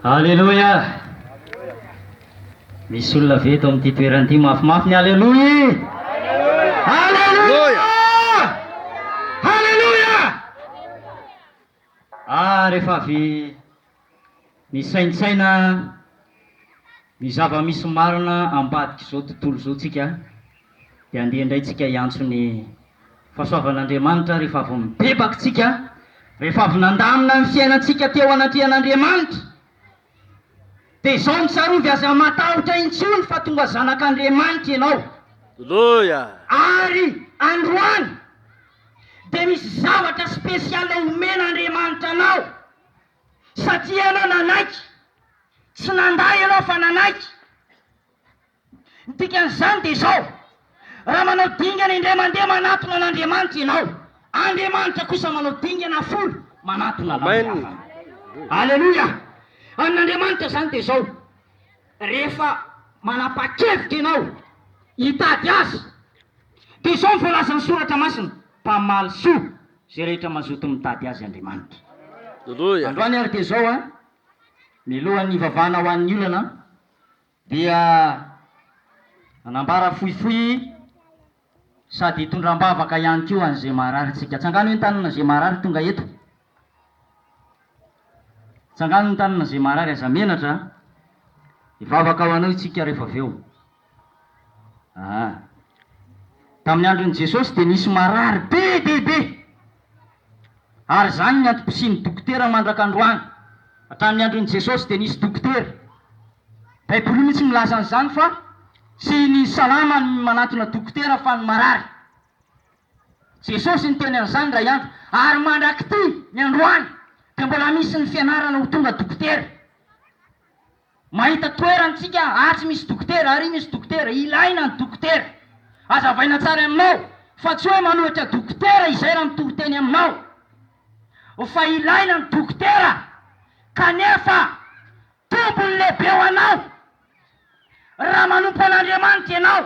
Aleloia! Misy olona ve eto amin'ity toerana ity mafimafy ny Aleloia? Aleloia! Aleloia! Ah, rehefa avy misaintsaina ny zava-misy marina ambadik'izao tontolo izao tsika, dia andeha indray tsika hiantso ny fahasoavan'Andriamanitra rehefa avy mibebaka tsika, rehefa avy nandamina ny fiainantsika teo anatrehan'Andriamanitra. Dia izao no tsarovy, aza matahotra intsony fa tonga zanak'Andriamanitra ianao. Aleloia! Ary androany dia misy zavatra spécial homen'Andriamanitra anao, satria ianao nanaiky, tsy nandà ianao fa nanaiky. Ny dikan'izany dia izao, Raha manao dingana indray mandeha manatona an'Andriamanitra ianao, Andriamanitra kosa manao dingana folo manatona anao Amen. miafara. Aleloia! Amin'Andriamanitra izany dia izao, rehefa manapa-kevitra ianao hitady Azy, dia izao ny voalazan'ny Soratra Masina, Mpamaly soa izay rehetra mazoto mitady Azy Andriamanitra. Androany ary dia izao an, miloha ny hivavahana ho an'ny olana, dia nanambara fohifohy sady hitondra am-bavaka ihany koa an'izay maharary tsika. Tsangano eny tanana izay maharary tonga eto. Tsangano ny tanana izay maharary aza menatra a. Hivavaka ho anao itsika rehefa avy eo. Ah. Tamin'ny andron'i Jesosy dia nisy marary be dia be. Ary izany ny antom-pisian'ny dokotera mandraka androany. Hatramin'ny andron'i Jesosy dia nisy dokotera. Baiboly mihitsy milaza an'izany fa tsy ny salama no manantona dokotera fa ny marary. Jesosy niteny an'izany indray andro. Ary mandrak'ity, ny androany, dia mbola misy ny fianarana ho tonga dokotera. Mahita toerana tsika atsy misy dokotera ary misy dokotera, ilaina ny dokotera. Azavaina tsara aminao fa tsy hoe manohitra dokotera izay raha mitory teny aminao fa ilaina ny dokotera kanefa tompony lehibe ho anao raha manompo an'Andriamanitra ianao.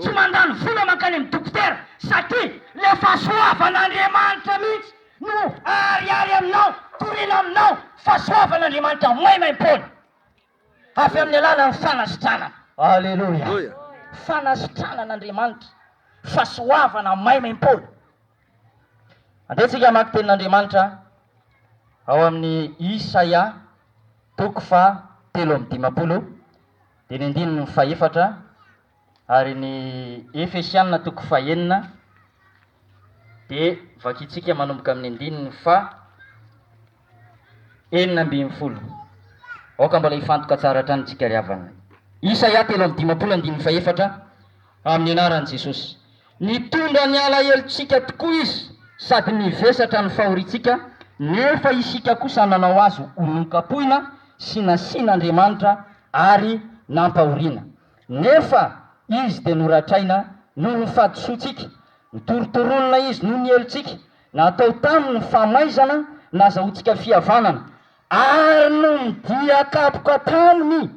Tsy mandany vola mankany amin'ny dokotera satria ilay fahasoavan'Andriamanitra mihitsy no aharihary aminao, torina aminao, fahasoavan'Andriamanitra maimaimpoana avy amin'ny alalan'ny fanasitranana. Aleloia! Fanasitranan'Andriamanitra, fahasoavana maimaimpoana. Andeha tsika hamaky tenin'Andriamanitra ao amin'ny Isaia toko faha telo amby dimampolo. Dia ny andininy fahefatra ary ny Efesiana toko fahenina dia vakintsika manomboka amin'ny andininy faha enina ambin'ny folo. Aoka mbola hifantoka tsara hatrany isika ry havana. Isaia telo amby dimampolo andininy fahefatra, Amin'ny anaran'i Jesosy. Nitondra ny alahelontsika tokoa izy sady nivesatra ny fahoriantsika, nefa isika kosa nanao azy ho nokapohina sy nasian'Andriamanitra ary nampahoriana. Nefa izy dia noratraina noho ny fahadisoantsika, notorontoronina izy noho ny helotsika, natao taminy famaizana nazahoantsika fihavanana, ary noho ny dia kapoka taminy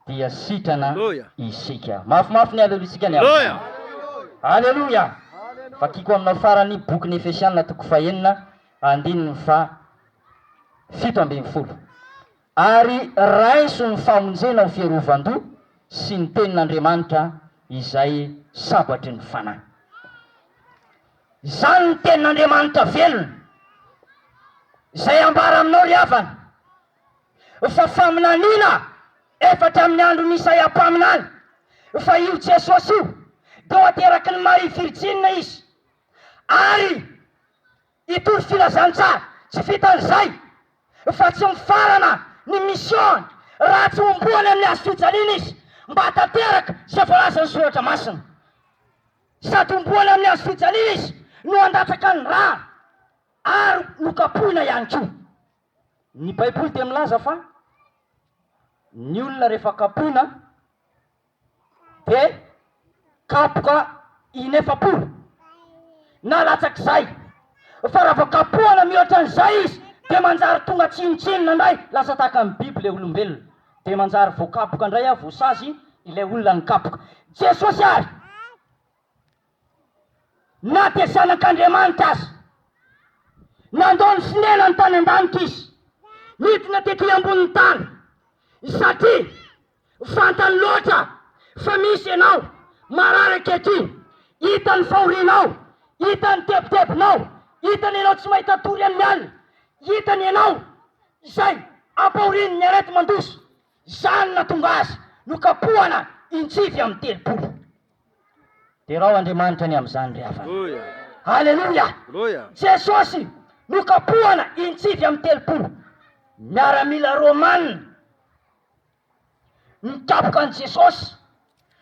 dia sitrana isika. Mafimafy ny Aleloiantsika ny amin'izany. Aleloia! Vakiko aminao farany ny bokin'ny Efesiana toko fahenina andininy faha fito ambin'ny folo. Ary raiso ny famonjena ho fiarovan-doha sy ny tenin'Andriamanitra izay sabatry ny fanahy. Izany ny tenin'Andriamanitra velona izay ambara aminao ry havana. fa faminaniana efatra amin'ny andron'i Isaia mpaminany, fa io Jesosy io dia ho aterakin'i Maria virjina izy, ary hitory filazantsara tsy vitan'izay, fa tsy mifarana ny mission-ny raha tsy homboany amin'ny hazo fijaliana izy mba hahatanteraka izay voalazan'ny Soratra Masina. Sady homboany amin'ny hazo fijaliana izy no handatsaka ny rà ary nokapohina ihany koa. Ny Baiboly dia milaza fa ny olona rehefa kapoina dia kapoka inefapolo na latsak'izay, fa raha vao kapohana mihoatra an'izay izy dia manjary tonga tsinontsinona indray, lasa tahaka ny biby ilay olombelona, dia manjary voakapoka indray, voasazy ilay olona nikapoka. Jesosy ary. Na dia zanak'Andriamanitra aza. Nandoa ny fonenany tany an-danitra izy, nidina tety ambonin'ny tany, satria fantany loatra fa misy ianao marary ankehitriny. Hita ny fahorianao, hita ny tebitebinao, hita ny ianao tsy mahita tory amin'ny alina, hita ny ianao izay ampahorin'ny areti-mandroso. Izany nahatonga azy nokapohana in-tsivy amby telopolo. Derao Andriamanitra ny amin'izany ry havana. Aleloia! Jesosy nokapohana in-tsivy amby telopolo miaramila romana nikapoka an'i Jesosy,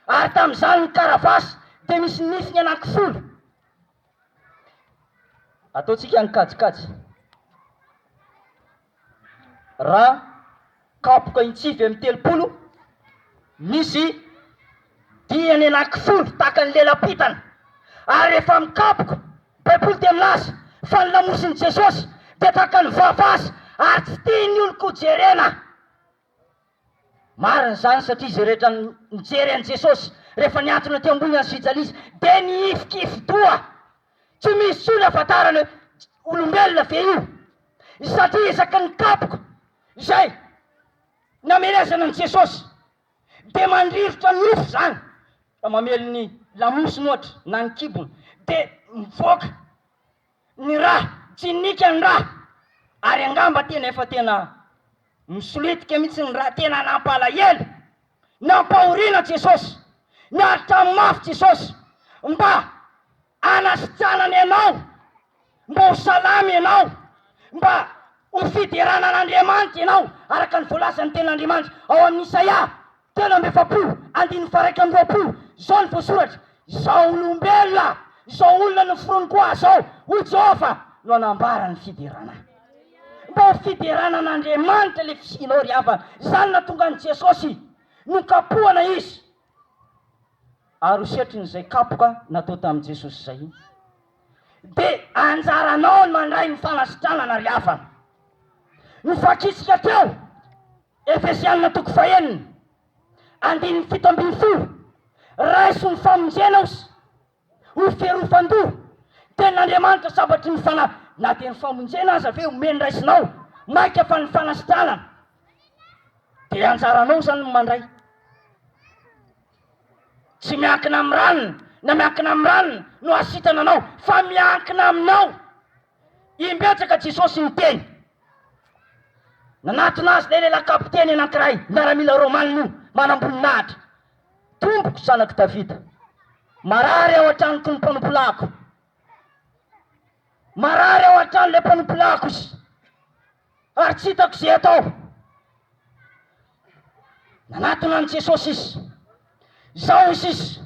ary tamin'izany ny karavasy dia misy nifiny anankifolo. Ataontsika ny kajikajy. Raha kapoka intsivy amin'ny telopolo, misy dihany anankifolo tahaka ny lelam-pitana, ary rehefa mikapoka baiboly dia milaza fa ny lamosin'i Jesosy dia tahaka ny vava azy ary tsy tian'ny olon-ko jerena. Marina izany satria izay rehetra nijery an'i Jesosy rehefa niantona teo ambony an'i Sijalisa dia nihifikifi-doha. Tsy misy intsony hahafantarana hoe olombelona ve io satria isaky ny kapoka izay namelezana an'i Jesosy dia mandrirotra nofo izany. Raha mamely ny lamosiny ohatra na ny kibony dia mivoaka. ny rà, tsy nika ny rà, ary angamba tena efa tena misolitika mihitsy ny rà, tena nampalahelo, nampahoriana Jesosy, niaritra mafy Jesosy mba hanasitranany anao, mba ho salama ianao, mba ho fiderana an'Andriamanitra ianao, araka ny voalazan'ny tenin'Andriamanitra ao amin'ny Isaia telo amby efapolo andininy faha iraika amby roapolo, izao no voasoratra, Izao olombelona, izao olona noforoniko ahy izao, hoy Jehovah, no hanambara ny fiderana. Mba ho fiderana an'Andriamanitra ilay fisianao ry havana. Izany no nahatonga an'i Jesosy nokapohana Izy, ary ho setrin'izay kapoka natao tamin'i Jesosy izay. Dia anjaranao ny mandray ny fanasitranana ry havana. Novakintsika teo. Efesiana toko fahenina andininy fito ambin'ny folo Raiso ny famonjena os ho ferofan-doha Tenin'Andriamanitra sabatry ny fana Na dia ny famonjena aza ve omeny raisinao Mainka fa ny fanasitranana dia anjaranao Izany no mandray Tsy miankina amin'ny ranona na miankina amin'ny ranona no hasitrana anao fa miankina aminao Impetraka Jesosy niteny. Nanatona Azy ilay lehilahy kapiteny anankiray, miaramila Romana io, manamboninahitra. Tompoko, zanak'i Davida, marary ao an-tranoko ny mpanompolahiko. Marary ao an-trano ilay mpanompolahiko. ary tsy hitako izay atao. Nanatona an'i Jesosy izy. Izao hoy izy,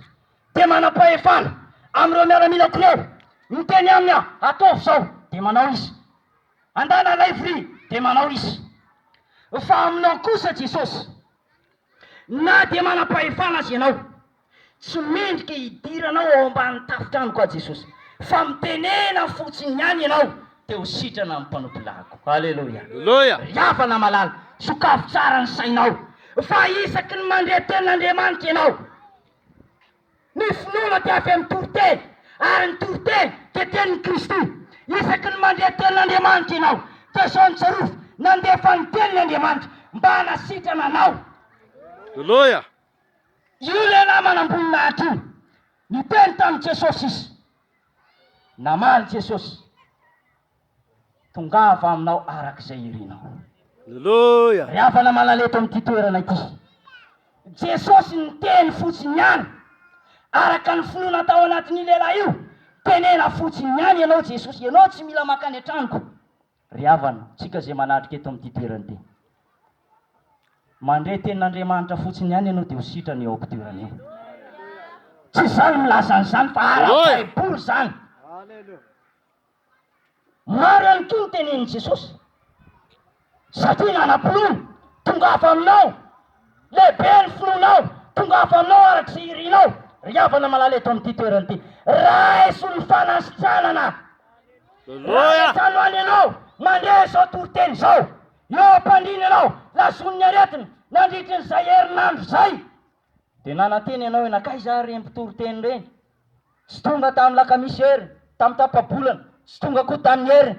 Dia manam-pahefana amin'ireo miaramianako ireo. Miteny aminy aho, Ataovy izao, dia manao izy. Andana ilay vilia, dia manao izy. Fa aminao kosa Jesosy, na dia manam-pahefana aza ianao, Tsy mendrika hidiranao ao ambany tafotranoko aho Jesosy fa mitenena fotsiny ihany ianao dia ho sitrana ny mpanompolaniko. Aleloia. Aleloia. Ry havana malala, sokafy tsara ny sainao fa isaky ny mandre tenin'Andriamanitra ianao, ny finoana dia avy amin'ny toriteny ary ny toriteny dia tenin'i Kristy. Isaky ny mandre tenin'Andriamanitra ianao dia izao no tsarovy, nandefa ny teniny Andriamanitra mba hanasitrana anao. Aleloia. Io lehilahy manam-boninahitra io niteny tamin'i Jesosy izy. Namaly Jesosy, Tongava aminao araka izay irinao. Aleloia! Ry havana malala eto amin'ity toerana ity, Jesosy niteny fotsiny ihany araka ny finoana tao anatin'io lehilahy io. Tenena fotsiny ihany ianao Jesosy, ianao tsy mila mankany an-tranoko. Ry havana, tsika izay manatrika eto amin'ity toerana ity. Mandre tenin'Andriamanitra fotsiny ihany ianao dia ho sitrana eo am-pitoerana eo. Tsy izaho no milaza an'izany fa ara-baiboly izany. Maro ihany koa ny tenenin'i Jesosy. Satria nanam-pinoana, tongava aminao Lehibe ny finoanao, tongava aminao araka izay irinao, ry havana malala eto amin'ity toerana ity. Raiso ny fanasitranana. Raha any an-trano any ianao, mandre izao toriteny izao. Eo am-pandriana ianao, lazon'ny aretina, nandritry ny izay herinandro izay. Dia nanantena ianao hoe, Nankaiza ary ireny mpitoriteny ireny? Tsy tonga tamin'ny lakamisy heriny, tamin'ny tapa-bolana, tsy tonga koa tamin'ny heriny.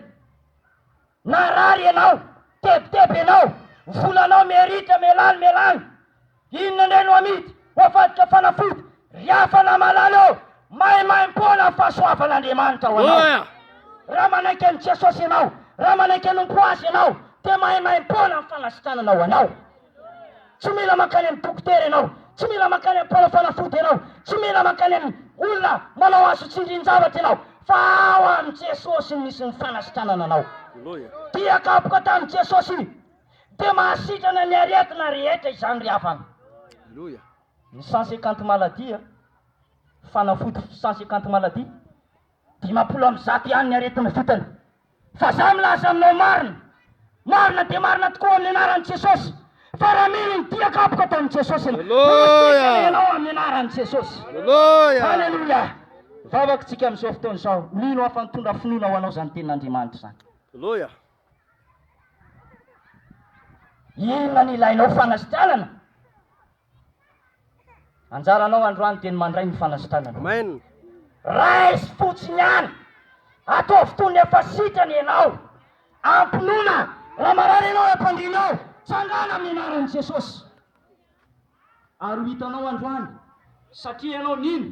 Narary ianao, tebiteby ianao, ny volanao meritra, melany, melany. Inona indray no amidy ho avadika fanafody, ry hafana malala ô! Maimaimpoana ny fahasoavan'Andriamanitra ho anao. Raha manaiky an'i Jesosy ianao, raha manaiky hanompo Azy ianao, dia maimaimpoana ny fanasitranana ho anao. Tsy mila mankany amin'ny dokotera ianao, tsy mila mankany amin'ny mpanao fanafody ianao, tsy mila mankany amin'ny olona manao azo tsindrin-javatra ianao, fa ao amin'i Jesosy no misy ny fanasitranana anao. Dia kapoka tamin'i Jesosy. Dia mahasitrana ny aretina rehetra izany ry havana. Ny sans equante maladie, fanafody sans equante maladie, dimampolo amby zato ihany ny aretina vitany. Fa za milaza aminao marina, marina dia marina tokoa amin'ny anaran'i Jesosy, fa raha mino ny diako ampoko atao amin'i Jesosy ianao, voasikana ianao amin'ny anaran'i Jesosy. Haleloia! Vavako tsika amin'izao fotoana izao, mino aho fa nitondra finoana ho anao izany tenin'Andriamanitra izany. Haleloia! Inona no ilainao fanasitrànana? Anjaranao androany dia ny mandray ny fanasitranana. Amen. Raiso fotsiny ihany. Ataovy toy ny efa sitrana ianao. Ampinoana. Raha marary ianao eo am-pandriana ao, tsangana amin'ny anaran'i Jesosy. Ary ho hitanao androany. Satria ianao nino.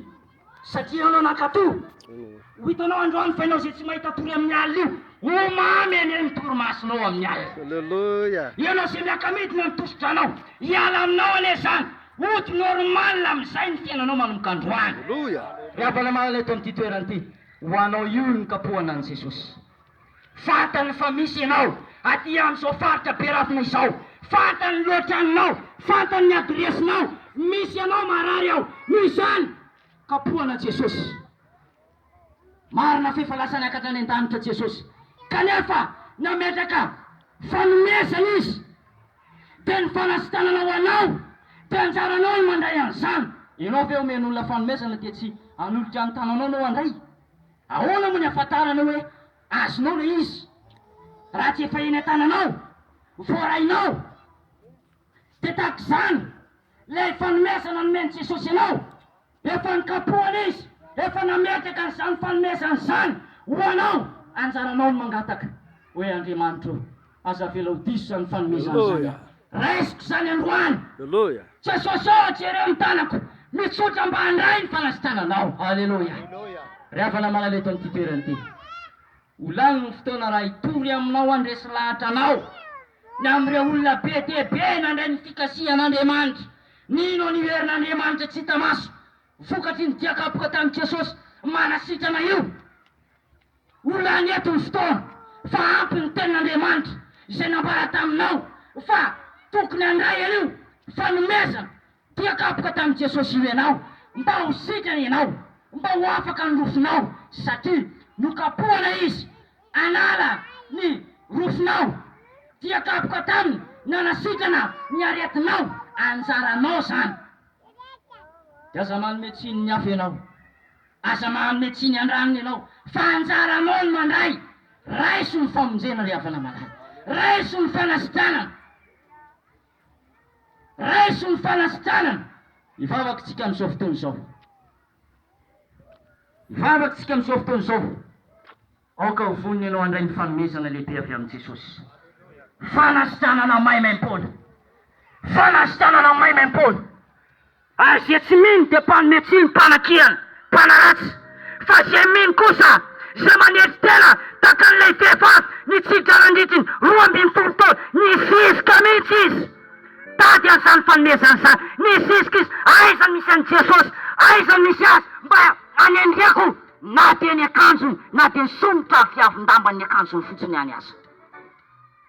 Satria ianao nankato. Ho hitanao androany fa ianao izay tsy mahita tory amin'ny alina io, ho mamy anie ny torimasonao amin'ny alina. Alléluia. Ianao izay miaka-midina ny tosidranao, hiala aminao anie izany. Hody normal amin'izay ny fiainanao manomboka androany. Alléluia. Ry havana malala eto amin'ity toerana ity, ho anao io ny kapohana an'i Jesosy. Fantany fa misy ianao aty amin'izao faritra be rafina izao. Fantany ny lohatranonao, fantany ny adiresinao. Misy ianao marary ao. Noho izany, kapohana Jesosy. Marina f'efa lasa niakatra any an-danitra Jesosy, kanefa nametraka fanomezana Izy. Dia ny fanasitanana ho anao, dia anjaranao ny mandray an'izany. Ianao ve omeny olona fanomezana dia tsy hanolotra ny tananao no handray? Ahoana moa ny ahafantaranao hoe azonao ilay izy raha tsy efa eny an-tananao, voarainao? Dia tahaka izany ilay fanomezana nomen'i Jesosy anao, efa nokapohany izy, efa nametraka an'izany fanomezana izany ho anao, anjaranao ny mangataka hoe Andriamanitro ô. Aza avelao diso zany fanomezana zany an! Raisiko zany androany! Jesosy ô! Jereo ny tanako! Mitsotra mba handray ny fanasitrananao! Haleloia! Ry havana malala eto amin'ity toerana ity, ho lany ny fotoana raha hitory aminao handresy lahatra anao ny amin'ireo olona be dia be nandray ny fikasihan'Andriamanitra, nino an'io herin'Andriamanitra tsy hita maso vokatry ny dia kapoka tamin'i Jesosy manasitrana io. Ho lany eto ny fotoana, fa ampy ny tenin'Andriamanitra izay nambara taminao fa tokony handray an'io fanomezana dia kapoka tamin'i Jesosy io ianao mba ho sitrana ianao, mba ho afaka ny rofinao satria nokapohana Izy hanala ny rofinao dia kapoka taminy ny hanasitrana ny aretinao, anjaranao izany. Dia aza manome tsiny ny hafa ianao. Aza manome tsiny an-dranony ianao fa anjaranao ny mandray. Raiso ny famonjena ry havana malala. Raiso ny fanasitranana. Raiso ny fanasitranana. Hivavaka isika amin'izao fotoana izao. Hivavaka isika amin'izao fotoana izao. Aoka ho vonona ianao handray ny fanomezana lehibe avy amin'i Jesosy. Fanasitranana maimaim-poana! Fanasitranana maimaim-poana! Ary izay tsy mino dia mpanome tsiny, mpanakihana, mpanaratsy. Fa izay mino kosa, izay manetry tena tahaka an'ilay vehivavy nitsidika nandritry ny roa ambin'ny folo taona, nizizika mihitsy izy tady an'izany fanomezana izany. Nizizika izy, Aiza no misy an'i Jesosy? Aiza no misy Azy mba hanendreko? Na dia ny akanjony na dia ny sonitra ary fiavin-dambany ny akanjony fotsiny ihany aza.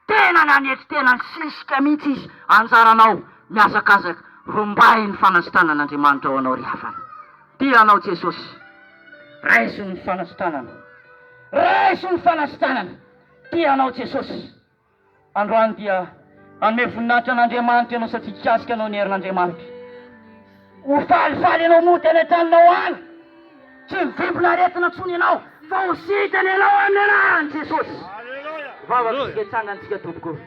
Tena nanetry tena nisisika mihitsy izy, anjaranao mihazakazaka rombay ny fanasitranan'Andriamanitra ho anao ry havana. Tia anao Jesosy. Raiso ny fanasitranana. Raiso ny fanasitranana. Tia anao Jesosy. Androany dia hanome voninahitra an'Andriamanitra ianao satria hikasika anao ny herin'Andriamanitra. Ho falifaly ianao mody any an-tranonao any. Tsy mivimbina aretina intsony ianao fa ho sitrana ianao amin'ny anaran'i Jesosy. Vavaka isika hitsangantsika tompoko.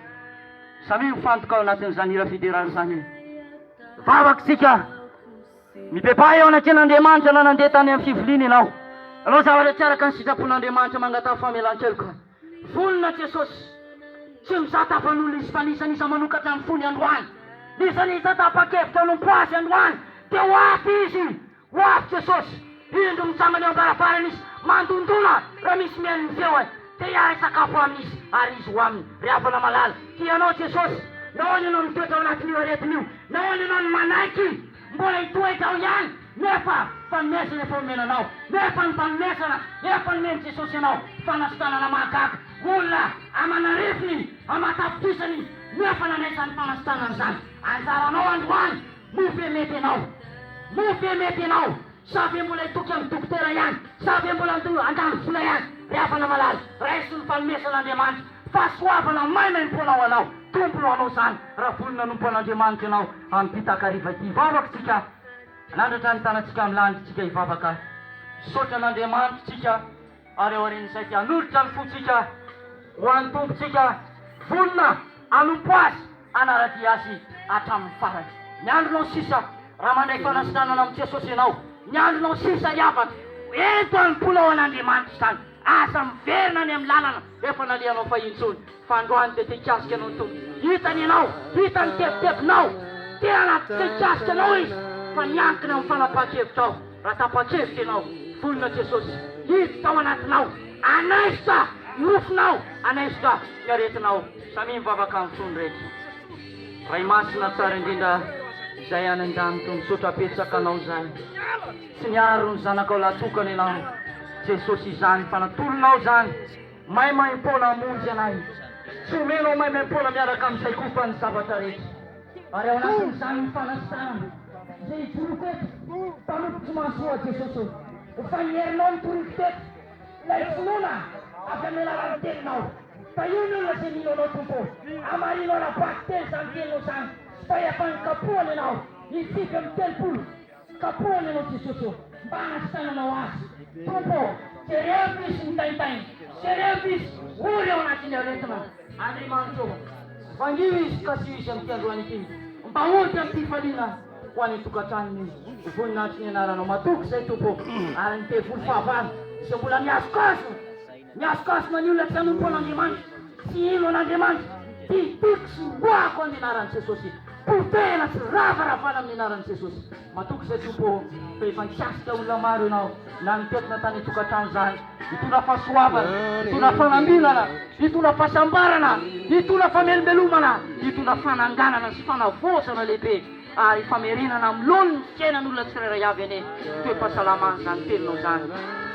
Samia mifantoka ao anatin'izany hira fiderana izany. Vavaka isika. Mibebaha eo anatrehan'Andriamanitra na nandeha tany amin'ny fiviliana ianao. Hanao zavatra tsy araka ny sitrapon'Andriamanitra mangataha famelan-keloka. Vonona Jesosy, tsy mizata havan'olona Izy fa ny izany Iza manokatra ny fony androany, ny izany Iza tapa-kevitra hanompo Azy androany dia ho avy Izy, ho avy Jesosy, indro mitsangana eo am-baravarana Izy, mandondona, raha misy mihaino ny feony, te hiara hisakafo aminy Izy, ary Izy ho aminy. Ry havana malala, tia Anao Jesosy, nahoana ianao mitoetra ao anatin'io aretina io? Nahoana ianao no manaiky? Mbola hitoetra ao ihany nefa fanomezana efa omena anao, nefa ny fanomezana efa nomen'i Jesosy anao, fanasitanana mahagaga, olona aman'arivony iny, aman-tapitrisany iny nefa nandray izany fanasitanana izany, anjaranao androany, moa ve mety ianao? Moa ve mety ianao? Sa ve mbola hitoky amin'ny dokotera ihany? Sa ve mbola handoa handany vola ihany? Ry havana malala, raiso ny fanomezan'Andriamanitra fahasoavana maimaimpoana ho anao. Tompony ho anao izany raha vonona hanompo an'Andriamanitra ianao amin'ity takariva ity. Hivavaka isika. Manandratra ny tanantsika amin'ny lanitra isika hivavaka. Misaotra an'Andriamanitra isika. Ary aorian'izay dia hanolotra ny fontsika ho an'ny Tompontsika, vonona hanompo Azy, hanara-dia Azy hatramin'ny farany. Ny andronao sisa, raha mandray fanasitranana amin'i Jesosy ianao, ny andronao sisa ry havana, ento hanompoana ho an'Andriamanitra izany. Aza miverina any amin'ny lalana efa nalehanao fahiny intsony. Fa androany dia te-hikasika anao ny Tompo. Hitany ianao, hitany ny tebitebinao. Tena te-hikasika anao Izy, fa miankina amin'ny fanapahan-kevitrao. Raha tapa-kevitra ianao, vonona Jesosy hiditra ao anatinao, hanaisotra ny nofinao, hanaisotra ny aretinao. Samia mivavaka amin'ny fo ny rehetra. Ray Masina tsara indrindra Izay any an-danitra, misaotra betsaka Anao Izay tsy niaro ny zanakao lahy tokana Ianao Jesosy izany fa natolonao izany, Maimaimpoana hamonjy anay, tsy omena ho maimaimpoana miaraka amin'izay kofa ny zavatra rehetra. Ary ao anatin'izany ny fanasitranana izay hijoroko eto, mpanompoko tsy mahasoa Jesosy ô. Efa ny herinao no toriko teto, ilay finoana avy amin'ny alalan'ny teninao. Fa io ny olona izay mino anao Tompo ô, hamarino ara-bakiteny izany teninao izany, fa efa nikapohana ianao, hitsipy amin'ny telopolo. Kapohany ianao Jesosy ô mba hahasitananao azy Tompo ô! Jereo Krisy mitaintaina, jereo Krisy ory ao anatin'ny aretina, Andriamanitra ô! Vangio izy ka asio izy amin'ity androany ity mba ho dia am-pifaliana ho any an-tokantranony voninahitry ny anaranao matoky izay Tompo ô! ary ny devoly fahavalo izay mbola mihazokazo Mihasonkasona ny olona tsy hanompo an'Andriamanitra, tsy hino an'Andriamanitra, dia toiko sy hoahako amin'ny anaran'i Jesosy. Potehina sy ravaravaina amin'ny anaran'i Jesosy. Matoky izay Tompo ô, fa efa nikasika olona maro Ianao, na ny toetina tany an-tokantrano izany. Hitondra fahasoavana, hitondra fanambinana, hitondra fahasambarana, hitondra famelombelomana, hitondra fananganana sy fanavaozana lehibe. ary famerenana amin'ny laoniny ny fiainan'olona tsirairay avy anie ny toe-pahasalaman'izany teninao izany,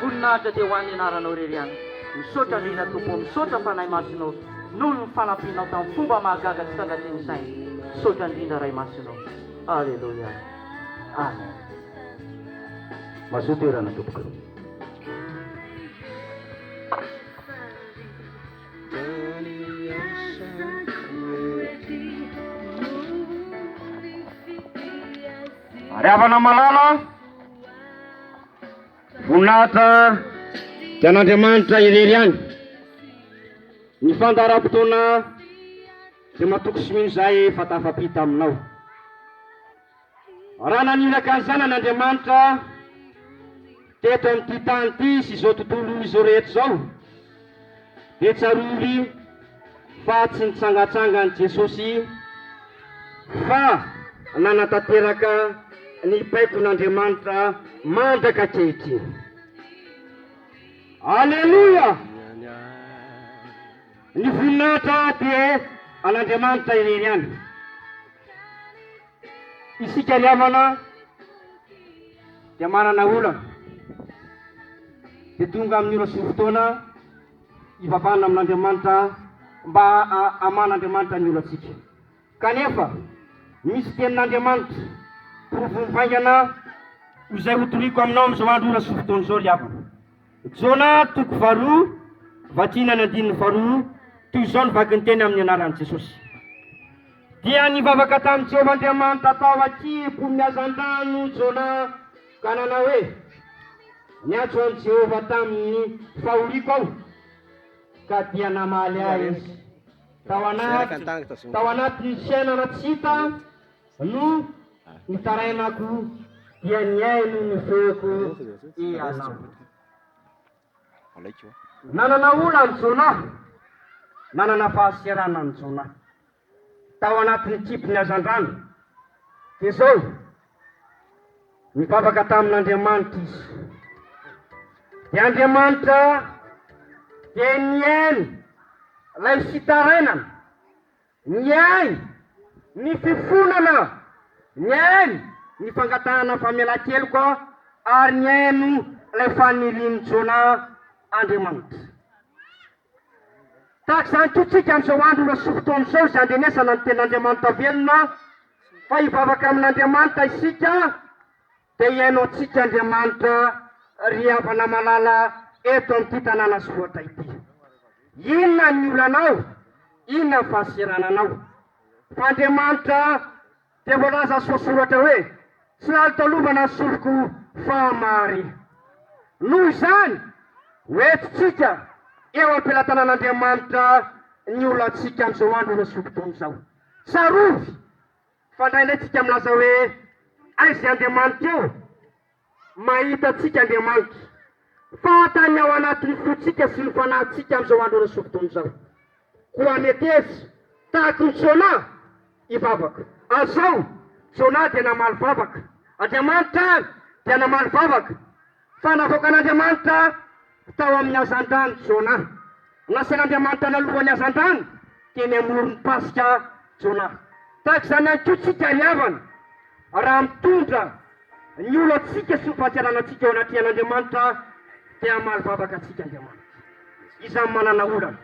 voninahitra dia ho an'ny anaranao irery ihany, misaotra indrindra Tompo ô, misaotra Fanahy Masina ô, noho ny fanampianao tamin'ny fomba mahagaga tsy takatrin'ny saina, misaotra indrindra Ray Masina ô, Aleloia, Amen. Mazoa toerana tompoko. Ry havana malala, voninahitra dia an'Andriamanitra irery ihany. Ny fandaharam-potoana dia matoky sy mino izay efa tafapita aminao. Raha naniraka ny Zanany Andriamanitra teto amin'ity tany ity sy izao tontolo izao rehetra izao, dia tsarovy fa tsy nitsangatsangan'i Jesosy fa nanatanteraka ny baikon'Andriamanitra mandrak'ankehitriny. Aleloia! Ny voninahitra dia an'Andriamanitra irery ihany. Isika ry havana dia manana olana, dia tonga amin'ny ora sy ny fotoana hivavahana amin'Andriamanitra mba haman'Andriamanitra ny olantsika. Kanefa misy tenin'Andriamanitra porofoiny vaingana ho izay hotoriako aminao amin'izao andro, ora sy fotoana izao ry havana. Jona toko faharoa vakina ny andininy faharoa toy izao ny vaky ny teny amin'ny anaran'i Jesosy. Dia nivavaka tamin'i Jehovah Andriamanitra tao an-kimpon'ny hazandrano Jona ka nanao hoe, Niantso an'i Jehovah tamin'ny fahoriako aho, ka dia namaly ahy izy. Tao anaty, tao anatin'ny fiainana tsy hita, No nitarainako dia ny ahy no nofehiko ianao. Nanana ola an'i Jona, nanana fahasiarana an'i Jona. Tao anatin'ny kibon'ny hazandrano. Dia izao, nivavaka tamin'Andriamanitra izy. Dia Andriamanitra dia nihaino ilay fitarainana. Ny ainy, ny fifonana, ny ainy, ny fangatahana famelan-keloka ary ny haino ilay fanirian'i Jonah Andriamanitra. Tahaka izany koa tsika amin'izao andro mbola sy fotoana izao izay andrenesana ny Tenin'Andriamanitra velona fa hivavaka amin'Andriamanitra isika, Dia hihaino antsika Andriamanitra ry havana malala eto amin'ity tanàna Soatra ity. Inona ny olanao? Inona ny fahasirananao? Fa Andriamanitra dia voalaza soasoratra hoe, Tsy lalitalovana ny sofiko fa mahare. Noho izany, ho entintsika eo am-pelatanan'Andriamanitra ny olantsika amin'izao andro lasa fokontany izao. Tsarovy! Fa indraindray tsika milaza hoe aiza Andriamanitra eo? mahita antsika Andriamanitra fantany ao anatin'ny fontsika sy ny fanahintsika amin'izao andro ara-sofidono izao. Koa meteza tahaky ny Jona i vavaka. Azao, Jona dia namaly vavaka. Andriamanitra ary dia namaly vavaka. Fa navoakan'Andriamanitra tao amin'ny hazandrano Jona. Nasian'Andriamanitra lalohan'ny hazandrano teny amoron'ny fasika Jona. Tahaka izany ihany koa isika ry havana, raha mitondra ny olantsika sy ny fahatsiaranantsika eo anatrehan'Andriamanitra dia hamaly vavaka antsika Andriamanitra. Iza no manana olana?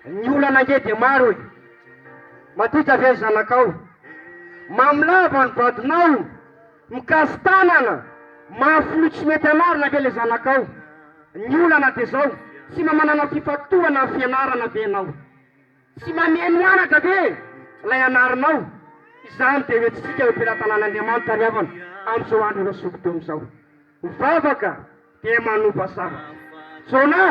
Ny olana ange dia maro e! Madinika ve ny zanakao? Mamy lava ny vadinao? Mikazo tanana, mafy loha tsy mety anarina ve le zanakao? Ny olana de zao, tsy mba manana fifantohana am fianarana ve enao? Tsy mameno anatra ve lay anarinao? Izany de ho etsitsika eo am-pelatanan'Andriamanitra ry havana amzao andro ireo sokidemy zao. Ny vavaka dia manova zavatra. Jona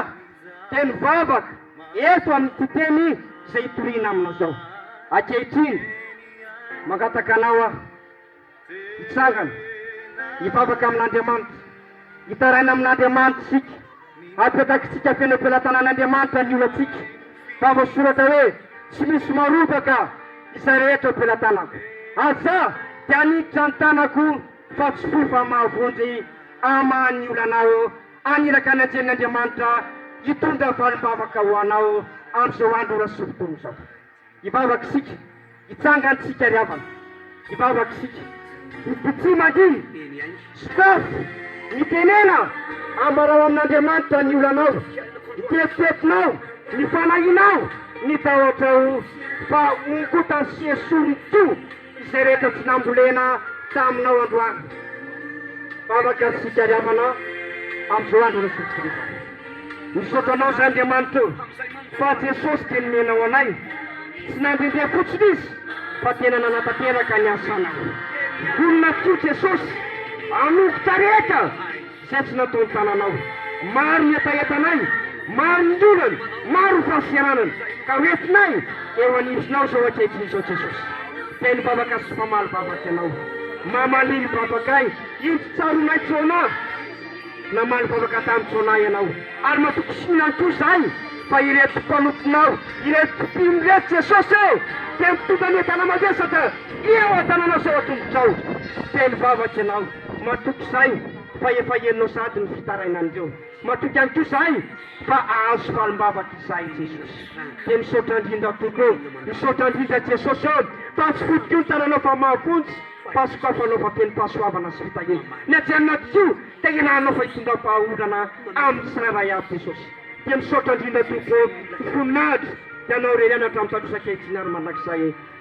dia nivavaka eto amin'ity teny izay itoriana amina izao. Ankehitriny, mangataka anao aho, hitsangana, hivavaka amin'Andriamanitra, hitaraina amin'Andriamanitra isika, hapetakitsika feno am-pelatanan'Andriamanitra ny olantsika, fa voasoratra hoe, Tsy misy marovaka izay rehetra ho pelatanako. Aza dia haniditra ny tanako. fa tsy fo fa mahavonjy ama ny olanao aniraka ny anjelin'ny Andriamanitra hitondra valim-bavaka ho anao amin'izao andro ora sy fotoana izao hivavaka isika hitsangantsika ry havana hivavaka isika mitsy mandihy sokafy mitenena ambarao amin'Andriamanitra ny olanao ny tetitetinao ny fanahinao ny tahotrao fa ongotany sy esory toa Izay rehetra tsy nambolena taminao androany. Vavaka sy fitiaviavana amin'izao andro iraisantsikay izao. Misaotra anao izay Andriamanitra ô, fa Jesosy dia nomena ho anay, tsy nandrindia fotsiny Izy fa tena nanatanteraka ny asanao. Vonona tokoa Jesosy hanompo taretra. Izay tsy natao ny tananao. Maro ny hetahetanay, maro ny olana, maro ny fahasiaranana, ka ho entinay eo anivonao izao ankehitriny izao Jesosy. Feno vavaka sy famaly vavaka Ianao. Mamalily vavakay. Inty tsaroanay Jonah. Namaly vavaka tamin'i Jonah Ianao. Ary matoky soa ihany koa izahay fa ireto mpanomponao, ireto mpino ireto Jesosy e! Dia mitondra ny entana mavesatra eo an-tananao sy eo an-tongotrao. Feno vavaka Ianao. Matoky izahay fa efa henonao sahady ny fitarainan'ireo. Matoky ihany koa izahay fa ahazo falim-bavaka izahay Jesosy. Dia misaotra indrindra tompoko ô! Misaotra indrindra Jesosy ô! Fa tsy foto koa ny tananao fa mahafontsy, fa sokafanao fa feno fahasoavana sy fitahiana. Ny aty anaty koa dia iarahanao fa hitondram-pahaolana amin'ny tsirairay avy Jesosy. Dia misaotra indrindra tompoko ô! Ho voninahitra Ianao irery any hatramin'ny tadosa-kehitiny ary mandrakizay.